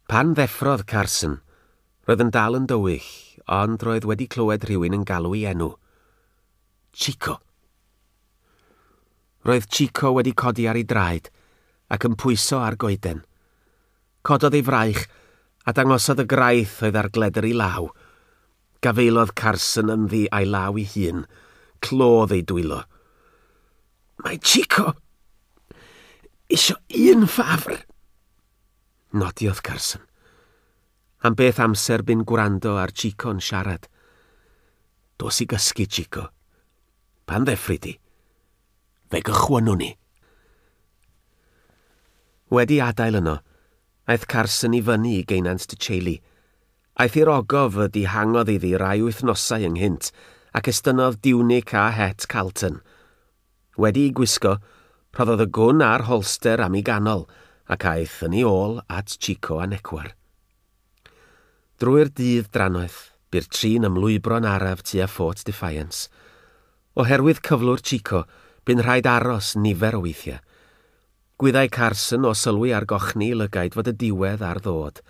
Pan ddeffrodd Carson, roedd yn dal yn dywyll, ond roedd wedi clywed rhywun yn galw'i enw. Chico! Roedd Chico wedi codi ar ei draed ac yn pwyso ar goeden. Cododd ei fraich a dangosodd y graith oedd ar gledr ei law. Gafaelodd Carson ynddi a'i law ei hun. Clodd ei dwylo. Mae Chico isio un ffafr. Nodiodd Carson. Am beth amser bu'n gwrando ar Chico'n siarad. Dos i gysgu, Chico. Pan ddeffri di, fe gychwynwn ni. Wedi adael yno, aeth Carson i fyny i geunant Dy Cheili, Aeth i'r ogof y dihangodd iddi rai wythnosau ynghynt, ac estynnodd diwnic a het Carlton. Wedi'i gwisgo, rhoddodd y gwn a'r holster am 'i ganol, ac aeth yn ei ôl at Chico a Necwar. Drwy'r dydd drannoeth, bu'r tri'n ymlwybro'n araf tua Fort Defiance. Oherwydd cyflwr Chico, bu'n rhaid aros nifer o weithiau. Gwyddai Carson o sylwi ar gochni lygaid fod y diwedd ar ddod.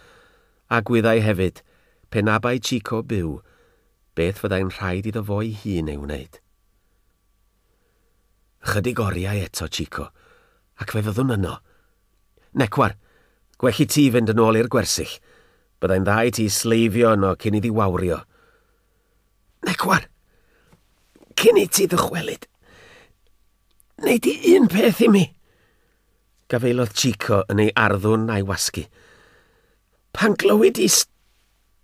A gwyddai hefyd, pe na bai Chico byw, beth fyddai'n rhaid iddo fo'i hun ei wneud. Ychydig oriau eto, Chico, ac fe fyddwn yno. Necwar, gwell i ti fynd yn ôl i'r gwersyll. Byddai'n dda i ti sleifio yno cyn iddi wawrio. Ac wan, cyn i ti ddychwelyd, neu di un peth i mi. Gafaelodd Chico yn ei arddwn a'i wasgu. Pan glywyd i st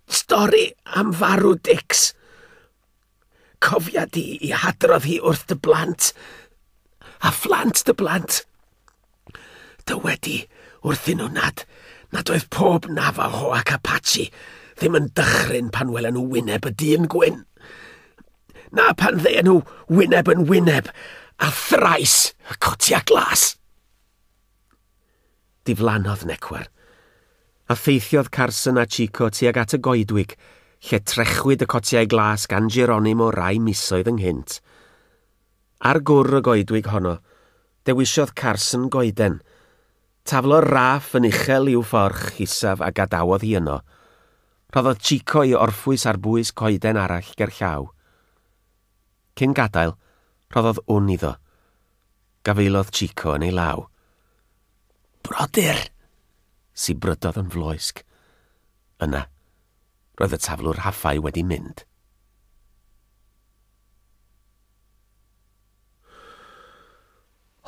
stori am farw Dix, cofia di i hadrodd hi wrth dy blant, a phlant dy blant. Dywedi wrthyn nhw nad, nad oedd pob Navajo ac Apache ddim yn dychryn pan welen nhw wyneb y dyn gwyn. Na pan ddeien nhw wyneb yn wyneb a thrais y cotia glas. Diflannodd Necwar, a theithiodd Carson a Chico tuag at y goedwig, lle trechwyd y cotiau glas gan Geronimo rai misoedd ynghynt. Ar gwr y goedwig honno, dewisiodd Carson goeden. Taflo'r raff yn uchel i'w fforch isaf a gadawodd hi yno. Rhoddodd Chico i orffwys ar bwys coeden arall gerllaw. Cyn gadael, rhoddodd wn iddo. Gafaelodd Chico yn ei law. Brodyr! sibrydodd yn floesg. Yna, Roedd y taflwr haffau wedi mynd.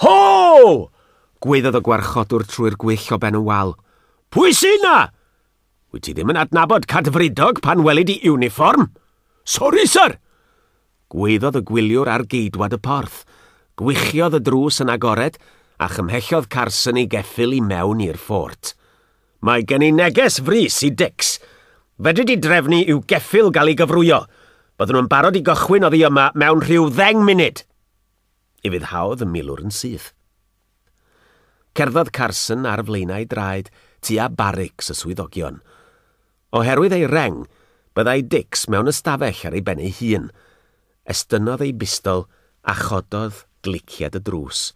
Ho! Gwaeddodd y gwarchodwr trwy'r gwyll o ben y wal. Pwy sy'n na? Wyt ti ddim yn adnabod Cadfridog pan welid i uniform? Sori, sir! Gwaeddodd y gwyliwr ar geidwad y porth. Gwychiodd y drws yn agored, a chymhellodd Carson ei geffyl i mewn i'r ffort. Mae gen i neges frys i Dix. Fedri di drefnu i'w geffyl gael ei gyfrwyo. Bydden nhw'n barod i gychwyn oddi yma mewn rhyw ddeng munud! Ufuddhaodd y milwr yn syth. Cerddodd Carson ar flaenau draed tua barics y swyddogion. Oherwydd ei reng, byddai Dix mewn ystafell ar ei ben ei hun. Estynnodd ei bistol a chododd gliciad y drws.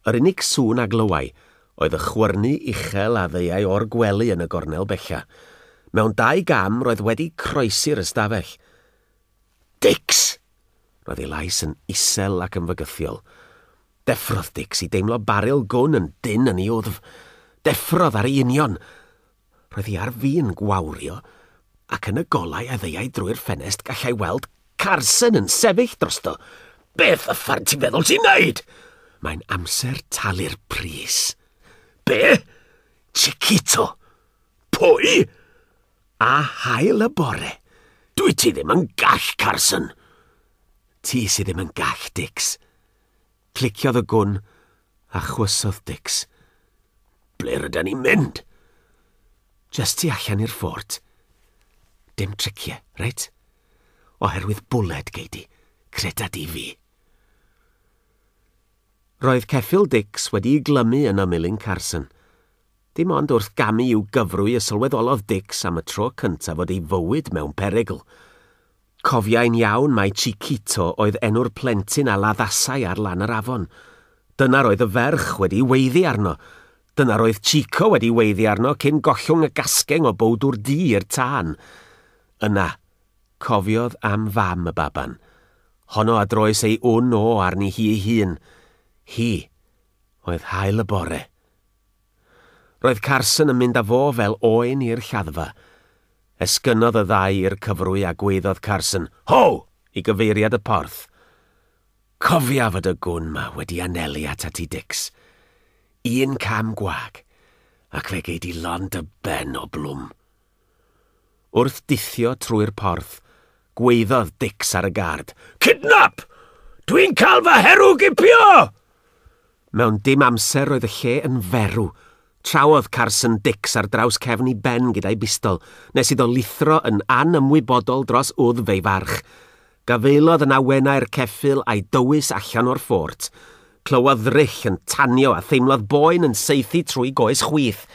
Yr unig sŵn a glywai oedd y chwyrnu uchel a ddeuai o'r gwely yn y gornel bella. Mewn dau gam roedd wedi croesi'r ystafell. Dix! Roedd ei lais yn isel ac yn fygythiol. Deffrodd Dix i deimlo baril gwn yn dynn yn ei wddf. Deffrodd ar ei union! Roedd hi ar fin gwawrio, ac yn y golau a ddeuai drwy'r ffenest gallai weld Carson yn sefyll drosto. Beth y ffair ti'n feddwl ti'n neud? Mae'n amser talu'r pris. Be? Chiquito? Pwy? A hael y bore. Dwi ti ddim yn gall, Carson. Ti sydd ddim yn gall, Dix. Cliciodd y gwn, a chwysodd Dicks. Ble ryda ni'n mynd? Just tu allan i'r ffort. Dim tricie, reit? Oherwydd bwled gei di, creda di fi. Roedd ceffyl Dicks wedi'i glymu yn ymyl un Carson, Dim ond wrth gamu i'w gyfrwy y sylweddolodd Dix am y tro cyntaf fod ei fywyd mewn perygl. Cofiai'n iawn mai Chiquito oedd enw'r plentyn a laddasai ar lan yr afon. Dyna'r oedd y ferch wedi weiddi arno. Dyna'r oedd Chico wedi weiddi arno cyn gollwng y gasgeng o bowdwr du i'r tân. Yna, cofiodd am fam y baban. Honno a droes ei wn o arni hi'i hun. Hi oedd Haul y Bore. Roedd Carson yn mynd â fo fel oen i'r lladdfa. Esgynnodd y ddau i'r cyfrwy a gwaeddodd Carson, Ho! i gyfeiriad y porth. Cofia fod y gwn 'ma wedi anelu atat ti Dix. Un cam gwag, ac fe gei di lond dy ben o blwm. Wrth dithio trwy'r porth, gwaeddodd Dicks ar y gard, Kidnap! Dwi'n cael fy herw gipio! Mewn dim amser roedd y lle yn ferw. Trawodd Carson Dicks ar draws cefn i ben gyda'i bistol, nes iddo lithro yn anymwybodol dros wddf ei farch. Gafaelodd yn awenau'r ceffyl a'i dywys allan o'r ffort. Clywodd ddryll yn tanio a theimlodd boen yn saethu trwy goes chwith.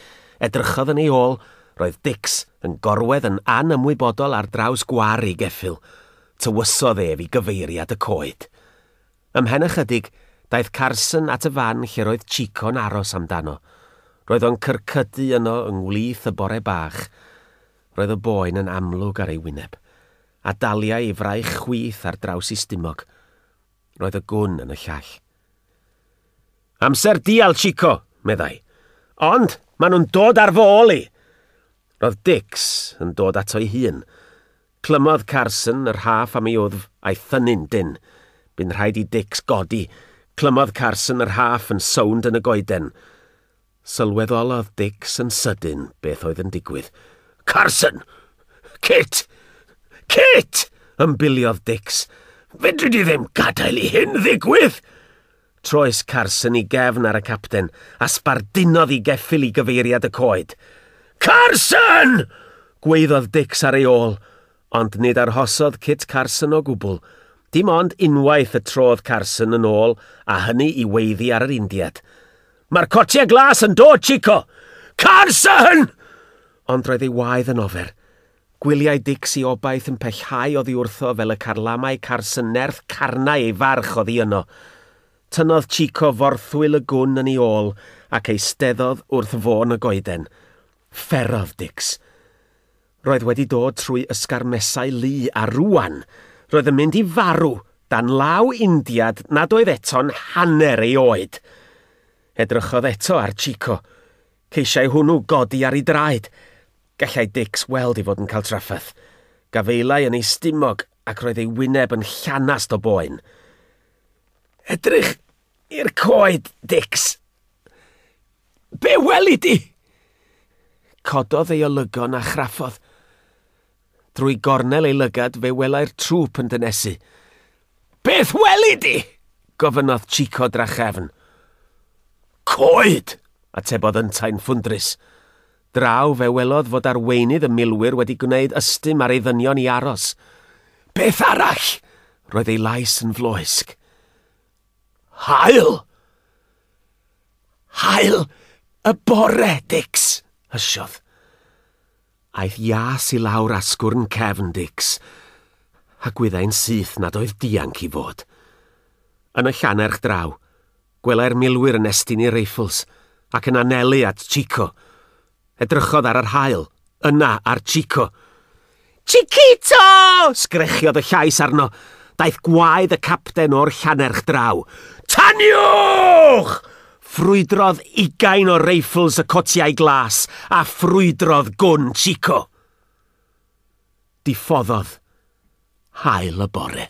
Edrychodd yn ei ôl, roedd Dix yn gorwedd yn anymwybodol ar draws gwar ei geffyl. Tywysodd ef i gyfeiriad y coed. Ymhen ychydig, daeth Carson at y fan lle'r oedd Chico'n aros amdano. Roedd o'n cyrcydu yno yng ngwlith y bore bach. Roedd y boen yn amlwg ar ei wyneb. a daliai ei fraich chwith ar draws ei stumog. Roedd y gwn yn y llall. Amser dial, Chico, meddai. Ond, maen nhw'n dod ar fo ôl i! Roedd Dix yn dod ato'i hun. Clymodd Carson yr haf am ei wddf a'i thynnu'n dyn. Bu'n rhaid i Dix godi. Clymodd Carson yr haf yn sownd yn y goeden. Sylweddolodd Dicks yn sydyn beth oedd yn digwydd. Carson! Kit! Kit! ymbiliodd Dicks. Fedri di ddim gadael i hyn ddigwydd! Troes Carson i gefn ar y capten a sbardunodd i geffil i gyfeiriad y coed. Carson! gweiddodd Dicks ar ei ôl, ond nid arhosodd Kit Carson o gwbl. Dim ond unwaith y trodd Carson yn ôl a hynny i weiddi ar yr Indiad. Mae'r cotiau glas yn dod, Chico! Carson! Ond roedd ei waedd yn ofer. Gwyliau Dix i obaith yn pellhau oddi wrtho fel y carlamau Carson nerth carnau ei farch oddi yno. Tynnodd Chico forthwyl y gwn yn ei ôl ac eisteddodd wrth fôn y goeden. Fferodd Dix. Roedd wedi dod trwy ysgarmesau lu a rŵan, roedd yn mynd i farw dan law Indiad nad oedd eto'n hanner ei oed. Edrychodd eto ar Chico. Ceisiai hwnnw godi ar ei draed. Gallai Dix weld ei fod yn cael trafferth. Gafaelai yn ei stumog ac roedd ei wyneb yn llanast o boen. Edrych i'r coed, Dix! Be weli di? Cododd ei olygon a chraffodd. Drwy gornel ei lygad fe welai'r trŵp yn dynesu. Beth weli di? gofynnodd Chico drachefn. Coed! atebodd yntau'n ffwndrus. Draw fe welodd fod arweinydd y milwyr wedi gwneud ystym ar ei ddynion i aros. Beth arall? Roedd ei lais yn floesg. Hael! Haul y bore, Dix! hysiodd. Aeth Ias i lawr asgwrn cefn Dix, a gwyddai'n syth nad oedd dianc i fod. Yn y llanerch draw, gwelai'r milwyr yn estyn i reifls ac yn anelu at Chico, Edrychodd ar yr haul. Yna ar Chico. Chiquito! sgrechiodd y llais arno. Daeth gwaed y capten o'r Llanerch draw. Taniwch! Ffrwydrodd ugain o reifls y cotiau glas a ffrwydrodd gwn Chico. Diffoddodd hael y bore.